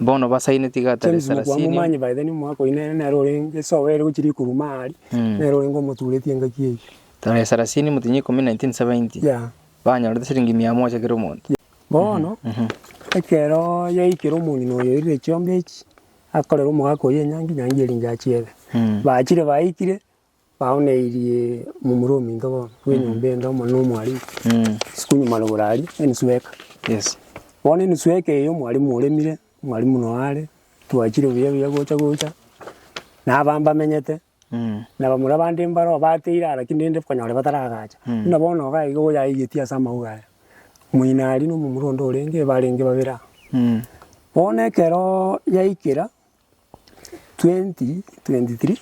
Bono basaine tiga atare James Mokua Saracenium. momanyi by the ni omwaka oyio nere nere orenge ase oboere gochia rikuru ime aria Mm. nere orenge omoturetie engaki eyio Tare Saracenium tinya ikomi 1970. yeah. Banyorete siringi mia moja kera omonto. Bono ekero yaikire omong'ina oyo oirire echiombe echi akorera omogaka oyo enyangi nyangi eringe achiebe Mm. bachire baikire Baoneirie momura ominto bono bw'enyomba ende omo n'omwarimu, isiko nyuma rogoro aria, enusu eka. Bono enusu eka eyio omwarimu oremire, omwarimu noyo are, twachire buya buya gocha gocha, na abana mbamenyete, na bamura bande mbaro bateire ara ki rende konyora bataragacha. Buna bono iga iga oyaigetie ase amauga aya, moino aria na omomura onde orenge, barenge babere aa. Bono ekero yaikera. 2023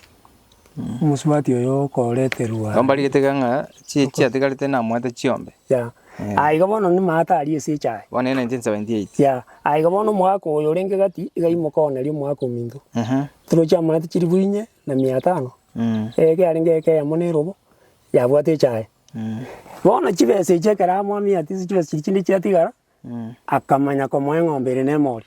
omosubati oyo okoreterwa. Igo mbarigete iga ng'a chi- chiatigarete namoete chiombe. Ya. Aya iga bono nimata aria ase echaye. Bono ere 1978. Ya. Aya iga bono omogaka oyo orenge gati iga imoka oneria omogaka ominto. Ehe. Turo chiamate chilifu inye na mia tano. Mm. Eke arenge eke eyemo na erobo, yabwate echaye. Mm. Bono chibesa echi ekero amoa miatia ase chibesa chiria chinde chiatigara, Mm. akamanya komoa eng'ombe ere na emori.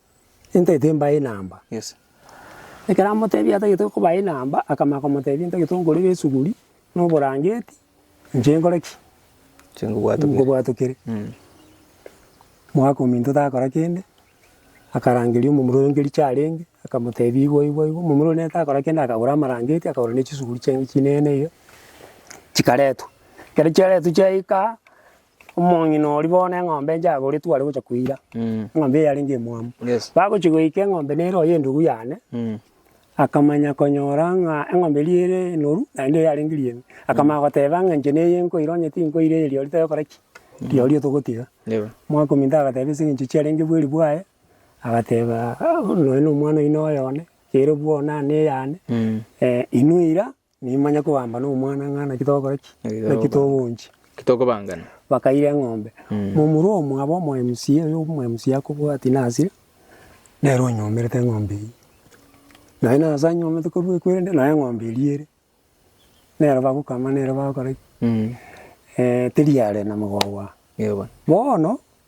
Ntaete mbae enamba. Yes. Ekero amotebia atagete kobae enamba, akamanya komotebia ntagete nkore besuguri, na oborangeti, inche nkore ki? Inche nkobwatokere. Nkobwatokere. Mm. Mwaka ominto takora kende, akarangeria omomura oyo nke richa arenge, akamotebia igwa igwa igwa, omomura oria nere takora kende akagora amarangeti, akagora ne chisuguri chiane chinene iga, chikaretwa. Ekero chiaretwa chiaika aa, Omong'ina oria bono eng'ombe enche agoretwe are gocha koira, eng'ombe eye yarenge emwamu. Yes. Bagochia goika eng'ombe nere oyo endugu yane, Mm. akamanya konyora ng'a eng'ombe eria ere enoru naende eye yarenge riembe. Akamanya goteba ng'a inche neye nkoira onye tinkoira eye riori togokora ki? Riori togotiga. Yebo. Mwakominto agateba ase eng'encho chiarenge bweri bwaye, agateba "Ah, nonya nomwana oino oyo one, ere bwoo nane eyane, Mm. eh, inwe ira, Nimanye koamba nomwana ng'a naki togokora ki? Naki togochia. Naki tokobangana. Bakaira eng'ombe. Momura omwabo omoMCA oyo omoMCA akobwatia nasire, nere onyomerete eng'ombe eywo. Naye nase anyomete korwa ekwerende naye eng'ombe eria ere. Nere bagokama nere bagokora ki? Teri are na mogogo aa. Bono.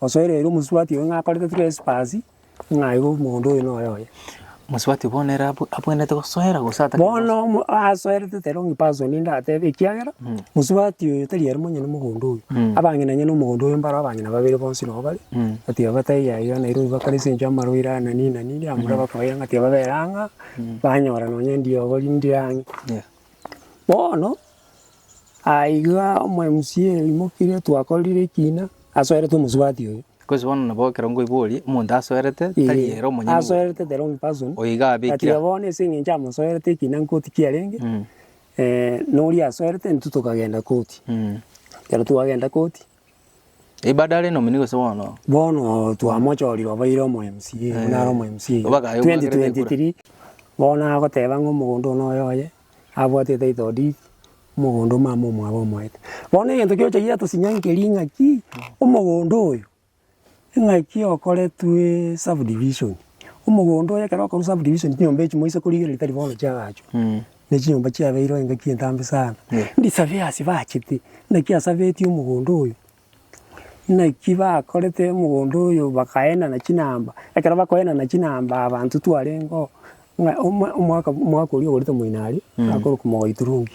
Osoereire omosubati oye ng'a akorete trespass, ng'a igo omonto oyo noyo oye. Omosubati bono ere abwe- abwenerete gosoera gose atari gosoera? Bono omo asoerete tari only person ndatebe ekiagera, Mm. mosubati oyo tari aria monyene mogondo oyo. Mm. Abang'ina onye na omogondo oyo mbaro abang'ina babere bonsi nabo bare, Mm. ati aba bataiyo yaiga Nairobi bakore ase enchera amaroiro aya na nini na nini, abamura bakoiga ng'a tibabera ang'aa, banyora nonye ndiogo rinde ang'e. Yeah. Bono, aiga omomc oimokire twakorire ekina, asoerete omosubati oye. Gose bono nabo ekero ngoiborie, omonto asoerete tari Ee, ere omonyene bwe- asoerete the wrong person. oyo iga Gati abekire iga bono ase eng'encho amosoerete ekina nkoti kiarenge, Mm, eh, noria asoerete intwe tokagenda koti. mm. Ekero twagenda koti. Ebado are nomini gose bono? Bono twamochorire obaire omo mca buna are omo mca Obagaye obwagere nekura. 2023 bono nagoteba ng'a omogondo one oye oye abwate etitle deed omogondo omama omwabo omoete bono egento kiochayire tosinyangerie ng'aki omogondo oyo. Ing'aki okoretwe subdivision, omogondo oye ekero okorwa subdivision chinyomba echi moise korigereria tari bono chiagachwa, ne chinyomba chiabeirwe engaki entambe sana. Ndisaveasi bachete naki asabeti omogondo oyo, naki bakorete omogondo oyo bakaenana chinamba, ekero bakoenana chinamba abanto twarengeo, ng'a omwa omwaka omwaka oria ogoreta moino aria, akorokwa mogoiturungi.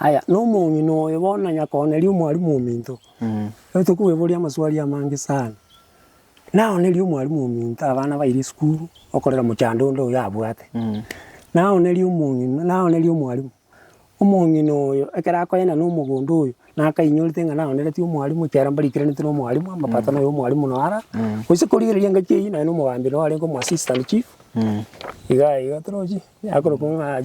Aya, nomong'ina oyo bono nonya kooneria omwalimu ominto, ekero tokoeboria amaswali amange sana, naoneria omwalimu ominto abana baire esukuru, okorera mochando onde oyo abwate, naoneria omong'ina, naoneria omwalimu, omong'ina oyo ekero akoenda na omogondo oyo, nakainyorete ng'a naoneretie omwalimu ekiagera mbarikeranete na omwalimu, amapato na ay'omwalimu noo ara, gose korigereria engaki eyio nonye na omogambere oo arenge omo assistant chief, igaa iga torochi, akorokwa ng'a.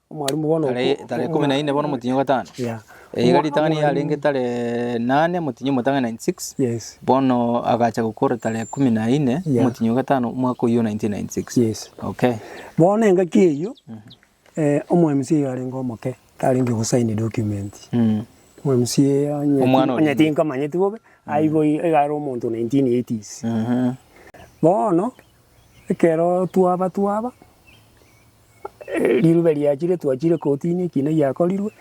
Tare ikomi na ine bono motienyi o gatano, eyiga ritang'ani yarenge tare nane motienyi o motang'ani 96, bono agacha gokora tare ikomi na ine motienyi o gatano omwaka oyio 1996. Bono engaki eyio omo mca yarenge omoke tarenge go sign document, omo mca onye tinkomanyeti bobe aigo iga are omonto 1980s. Bono ekero twaba twaba Rirube riachire twachire kotini ekina giakorirwe,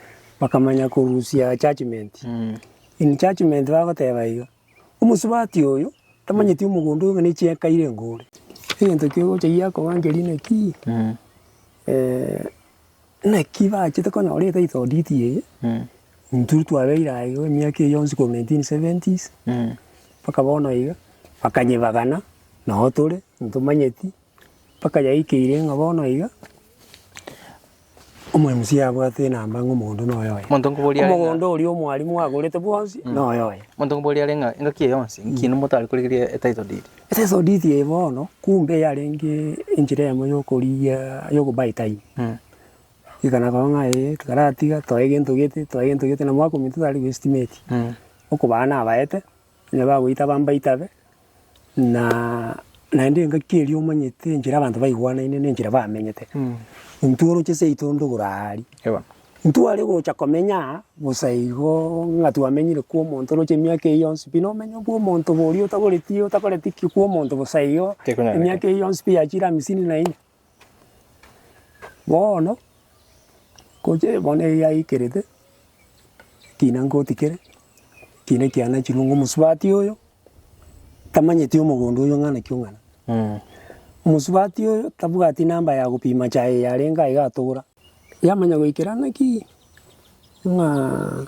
bakamanya korusia judgement. In judgement bagoteba iga, omosubati oyo tamanyeti omogondo oyo ng'a ne chieka ire ngore. Egento kegocha giakoba nkeria naki, naki bachete konyora etitle deed eye, intwe twabeire aye iga emiaka eye yonsi korwa nineteen seventies, mpaka bono iga, bakanyebagana, nao tore, ntomanyeti. Mpaka yaikeire ng'a bono iga omwemusi abwate enamba ng'a omonto noyo oye. Monto nkoboria are ng'a- Omogondo oria omwarimu agorete bwonsi noyo oye. Monto nkoboria are ng'a engaki eye yonsi inki nimotari korigeria etitle deed? Etitle deed eye bono kumbe yarenge enchera eyemo yokorigia yokobuy time. Iga nakorwa ng'a ee tikaratiga toe gento gete, toe gento gete na mwaka ominto tari goestimate. Okobaa nabaete Onye bagoita bambaite abe, na naende engaki eria omanyete enchera abanto baigwanaine na enchera bamenyete. Intwe oroche seito ndogoro aria, Yebo. ntware gocha komenya aa bosa igo ng'a twamenyire kwa omonto oroche emiaka eyio yonsi pi. Na omenyo bwa omonto oborio otagoretie otakoreti ki kwa omonto bosa igo Tekonyara. emiaka eyio yonsi pi yachire hamisini na inye. Bono, gocha bono eye yaikerete, ekina ngotikere, ekina ekianachirwe ng'a omosubati oyo, tamanyeti omogondo oyo ng'a naki ong'ana. Omosubati oyo, tabwati namba ya gopima chaye yarenge aiga atogora. Yamanya goikera naki ng'aa.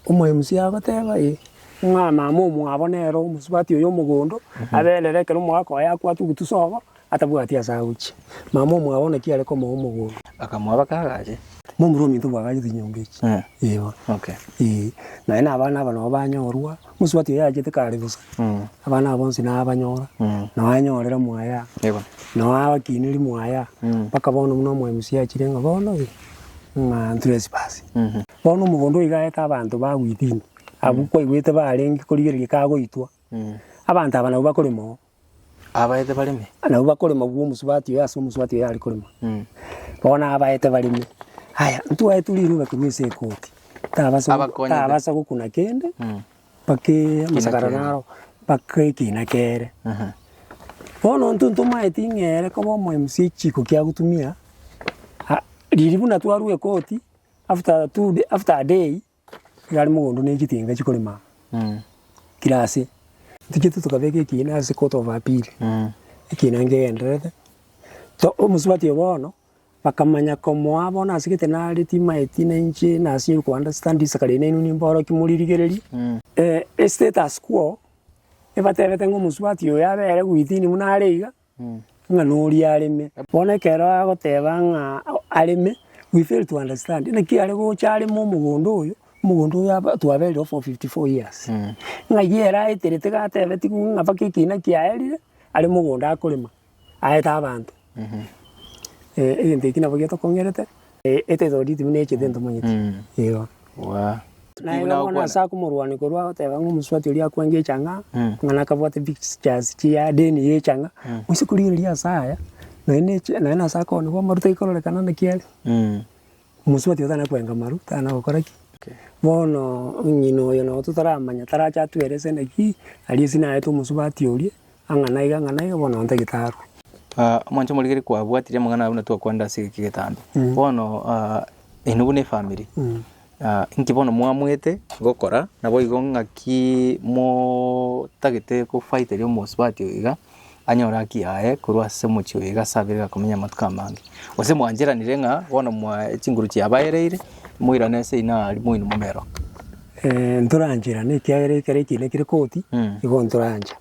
Omoemusi agoteeba, Ee, ng'a naama omwabo nere omosubati oyo omogondo, aberere ekero omogaka oye akwata ogotusa obo, atabwati ase agochia. Naama omwabo naki are komoa omogondo. Bakamoaba kagache. Momura ominto bwagachete enyomba echi. Eeh. Okay. Eeh. Naye na abana aba nabo banyorwa, omosubati oyo achete kare bosa, abana aba bonsi nabanyora, nao anyorera mwaye aa, Yebo. nao abakineria mwaye aa, mpaka bono buna omoemusi achire ng'a bono gaki. ng'a ntresipasi. Bono omogondo oyo igaete abanto ba within, abwo kwaigwete barenge korigereria kagoitwa, abanto aba nabwo bakorema oo. Abaete bareme. Nabwo bakorema bwa omosubati oyo ase omosubati oyo are korema. Bono abaete bareme, aya, ntwaetwe riroba korwa ase ekoti, tabasa Abakonye taa. tabasa gokuna kende. bakeisakara naro, bakekina kere. Bono intwe ntomaeti ng'a ere koba omomc chiko kiagotumia, ah riria buna twarwa ekoti, after two day after a day, iga are mogondo na echitinga chikorema kira ase. Tochiete tokabeka ekiina ase court of appeal, ekiina nkegendererete, to omosubati obo bono, bakamanya komoa bono ase egete nare timaeti na inche nase ere okoanda studies kare inee nainwe nimborokia moririgereria, estatus quo ebatebete ng'a omosubati oyo abe ere gwitini buna are iga, ng'a noria areme. Bono ekero agoteba ng'a areme, we fail to understand, naki are gocha areme omogondo oyo, omogondo oyo aba twaberire for fifty four years, ng'ai ere aeterete iga atebetigwe ng'a mpaka ekina kiaerire, are mogondo akorema. aete abanto. Egento eki nabo getokong'erete, etaitoro rituwe buna echete ntomanyeti. Naende bono ase akomorwania korwa agoteba ng'a omosubati oria akwenge echang'a, ng'a nakabwate pictures chia deni ya echang'a, gose korigereria ase aya, naende naende ase akoonigwa amaruta aike ororekane naki are. Omosubati otana kwenga amaru tana gokora ki? Bono ng'ina oyo nabo totaramanya tarache atue ere esende ki? Aria esina aete omosubati oria, ang'a na iga, ang'a na iga, bono nonye tagete arue. Omonto omorikeri kwabwatire amang'ana aya buna twakorende ase eke getambe. Bono eno buna efamiri, inki bono mwamoete gokora? Naboigo ng'aki motagete kofaiteria omosubati oyo iga? anyore haki yaye korwa ase omochie oye iga ase abere gakomenya amatuko amange. Gose mwancheranire ng'a bono mwae chinguru chiabaereire, moirane ase inao aria moino momero. ntorancherane ekiagera ekero ekiina kire koti, nigo ntorancha.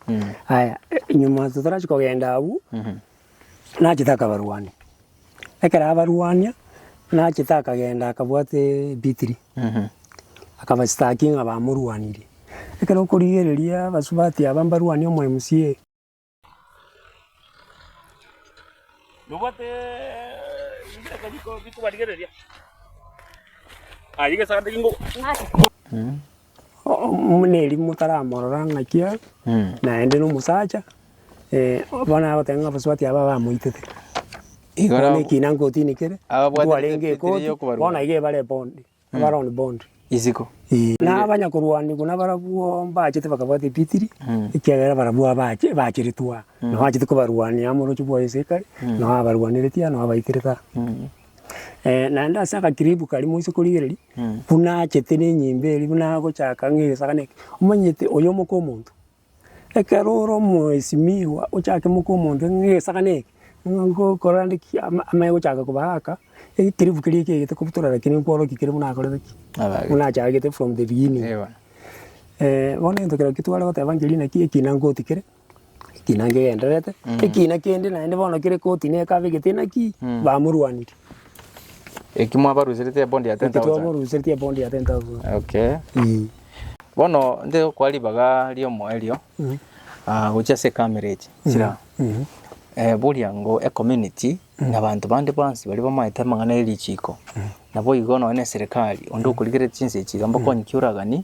Aya, nyuma totorachi kogenda abwo, nachete akabarwani. Ekero abarwania, nachete akagenda akabwate ebitiri, akabasitaki ng'a bamorwanirie. Ekero okorigereria abasubati aba mbarwanie omo MCA, Omoneri motaramorora ng'aki aa, naende nomosacha, bono agoteba ng'a abasubati aba bamoitete. Igo Bono nabo- ekina nkotini kere, Ababwate ntwarenge epitiri ekoti, y'okobarwa. bono iga ebare ebondi, ebare on bond. Isiko. Na abanyakorwanigwa nabarabwo mbachete bakabwata epitiri, ekiagera barabwo abache bacheretwe aa, nabo bachete kobarwania amo oroche bwaye ase ekare, nao abarwanereti aa, nao abaiterete aa. naende ase agakiripu karia moise korigereria, buna achete na enyimba eria buna agochaka ng'a egesagani eke, omanyete oyo omoke omonto. Ekero ore omwesimigwa ochake moke omonto ng'a egesagani eke, nigo ngokora nde ki ama amanye gochaka koba aka, ekekiripu keria ekeegete kobutora rakini nkworokia kere buna akorete ki? Buna achagete from the beginning. Bono egento keria twarigoteba nkerioki naki ekina ngotiki kere. Ekina nkegendererete, ekina kende naende bono kere koti na ekabe gete naki, bamorwanirie. Eki mwabaruseretie ebondi ya 10,000. Eki twamoruseretie ebondi ya 10,000. Okay. Eeh. Bono nte gokwa ribaga riomo erio ah, gochia ase ekamerege chira eh, boria ngo ecommunity na abanto bande bonsi baria bamaete amang'ana ya richiko nabo igo nonye na eserekari onde okorigereria chinsa echi iga mbakonye kiuragani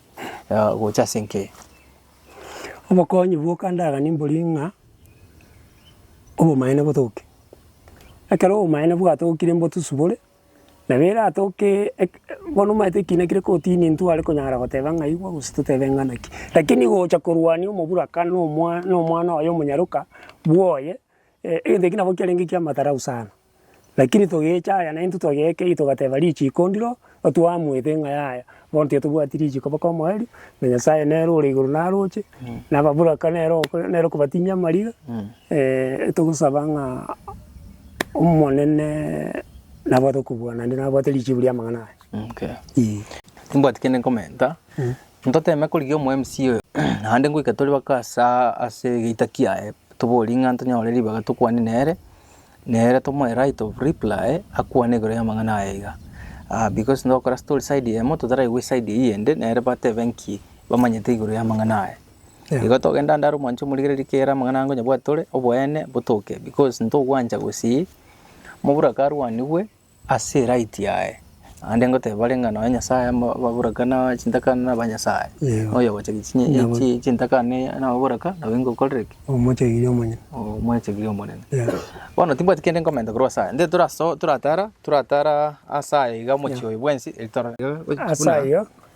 ah, gocha ase enke. Obokonyi bwoka ndaganie mbori ng'a obomaene botoke. Ekero obomaene bwatokire mbotusubore, nabo eratoke eke bono omanyete ekiina kire kotini ntware konyara goteba ng'a igwa gose totebe ng'a naki. Rakini gocha korwania omoburaka na omwa na omwana oye omonyaroka bwoye, egento ekio nabo kiarenge ki'amatarau sana. Lakini togecha aya naintwe togekei, togateba richiiko ndiro, otwamoete ng'a yaya, bono titotobwati richiiko mpaka omoerio, na Nyasaye nere ore igoro naroche, na ababoraka nere oko nere okobatinyia amariga, togosaba ng'a Omonene nabwate okobua naende nabwate richiibu ri'amang'ana aya. Ee. Timbwati kende nkomenta, ntoteme korigia omo mca oyo, naende ngoika tore baka asaa ase egeita kiaye, toborie ng'a ntonyore ribaga tokwane nere, Nere to my right of reply akwane igoro y'amang'ana aya iga, ah because togokora story side eyemo totaraigwa eside eyio eyende nere batebe nki bamanyete igoro y'amang'ana aya. Yeah. Igo togenda ande are omwancho omorigereria ki ere amang'ana aya nkonya bwatore oboene botoke because ntogwancha gosii moburaka arwanigwe Ase eright yaye, naende ngoteba bare ng'a nonya Nyasaye amaboraka na chintakana na abanyasaye, Eeh. oyo ogocha gichinyi Nabo- chi- chintakana ne- nababoraka nabo ingokorere ki? Omochegiri omonene. Omwechegiri omonene. Yeah. Bono timbwati kende nkomenta korwa ase aya, nde toraso toratara toratara ase aya iga omochie oyo bwensi, eri torore. Ase ayio,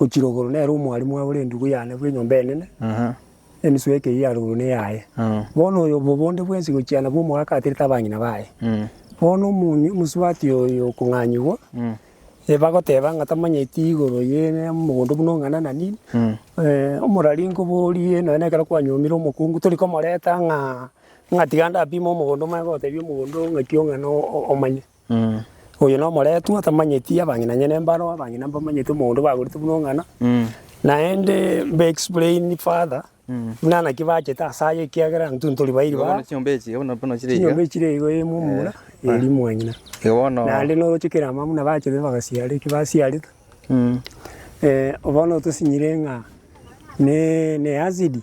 Ochirogoro nere omwarimu oye ore endugu yane bw'enyomba enene, emisu eke ya rogoro neyaye. Bono oyo bobonde bwensi gochiana bw'omoaka aterete abang'ina baye. Bono omosubati oyo okong'anyigwa, bagoteba ng'a tamanyeti igoro y'omogondo buna ong'ana na nini, omorari nkoborie nonya ekero kwanyomire omokungu tori komoreta ng'a tiga ndapime omogondo omanye gotebia omogondo ng'aki ong'ana omanye. Oyo nomoretwa tamanyeti abang'inanyene mbaro, abang'ina mbamanyeti omogondo bagorete buna ong'ana, naende mbe explain further buna naki bachete ase aya ekiagera intwe ntori bairi ba chinyomba echi iga eyemo omomura eri mwanyina. Naende noroche kera amang'ana buna bachete bagasiara eki basiarete. Bono tosinyire ng'a ne acid.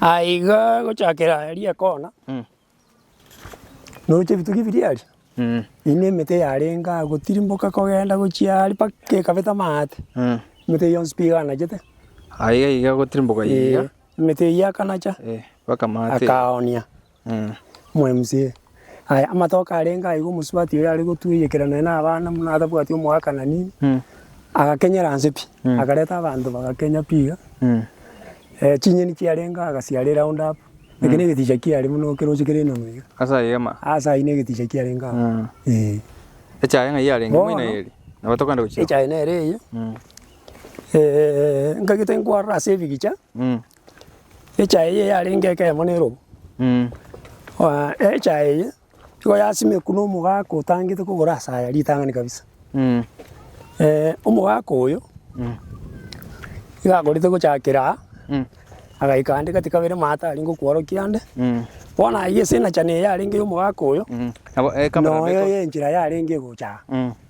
Aiga gochakera eria ekona, noroche ebitugi biria aria, eyio ne emete yarenge aa gotirimboka kogenda gochia aria mpaka ekabeta amaate, emete yonsi pi eganachete, emete eyio akanacha akaoonia. Omwemsie, Aye, amatoke arenge aiga omosubati oyo are gotueyekera nonya nabana buna atabwati omoakana nini, agakenyera anse pi, akareta abanto bagakenya pi iga, chinyeni chiarenge agasiare round up, eke negeticha kiare buna okeroche kere enono iga. Ase ayio ama. Ase ayio negeticha kiarenge agwo, eh. Echaye ng'ai yarenge moino Bono, eri, nabo tokogenda gochia. echaye nere eyio, nkagete nkwarora ase ebigicha, Echaye eye yarenge ekemo na erobo, echaye eye nigo yasimekwa na omogaka otangete kogora ase aya ritang'ani kabisa. Omogaka oyo nigo akorete gochakera aa, agaika ande gati kabere maate aria ngokworokia ande, bono aye ase enachani eye yarenge ya omogaka oyo, noyo enchera yarenge egocha aa.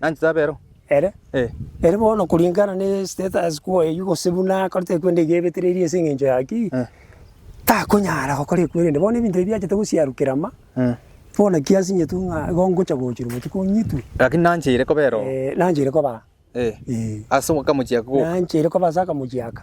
Nanchete abe ero. Ere? Eh. Ere bono kuringana ne status quo eyio gose buna akorete ekwenda eyio ebetereirie ase engencho ya ki, Eh. takonyara gokora ekwerende. Bono ebinto ebi biachete gosiarukera ama, Eh. bono ki asinyetwe ng'a igo ngocha gochirwa botuko ng'itwe, Lakini nancheire koba ero. eh, nancheire koba aa. Eh. Eh. Ase akamochie aka goka. Nancheire koba ase akamochie aka.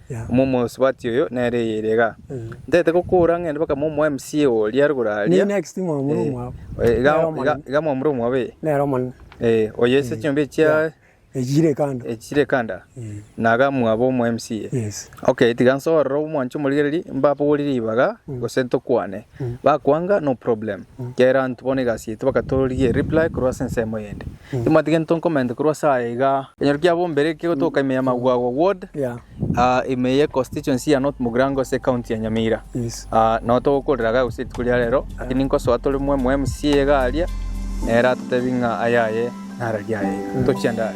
Omosubati oyo nere eyerega. Ntaete gokoora ng'ende mpaka mo omo MCA oria are igoro aria. Iga mwamura omwabo ee. Ee oyo ase chiombe echia echire kando na iga mwabo omo MCA. Okay tiga nsoe ororo omwanche omorigereria mbaborie ribaga gose ntokwane. Bakwanga no problem. Kera anto bono egasi yaito bakatororigia e reply korwa ase ensemo eyende. Timwati gento nkomente korwa ase aya iga. Ekenyoro kia bombere kegotoka ime ya Magwagwa ward, ime ye constituency ya North Mugirango ase ecounty ya Nyamira. Nao togokorera iga gose rituko ria rero lakini nkosoa tore mwa omo mca iga aria nere atotebi ng'a aya aye nararia aye iga. Tochia ndare.